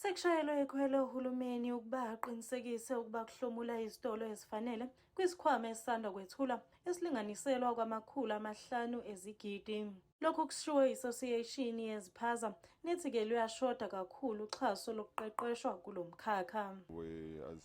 Sekushayelwe ikhwelo ohulumeni ukuba aqinisekise ukuba kuhlomula izitolo ezifanele kwisikhwama esisanda kwethula esilinganiselwa kwamakhulu amahlanu ezigidi. Lokhu kushiwo i-Association yeziphaza nethi-ke luyashoda kakhulu uxhaso lokuqeqeshwa kulo mkhakha. We as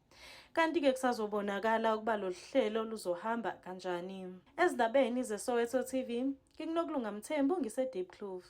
kanti-ke kusazobonakala ukuba lolu hlelo luzohamba kanjani ezindabeni zesoweto tv ngikunokulunga mthembu ngise-deep clove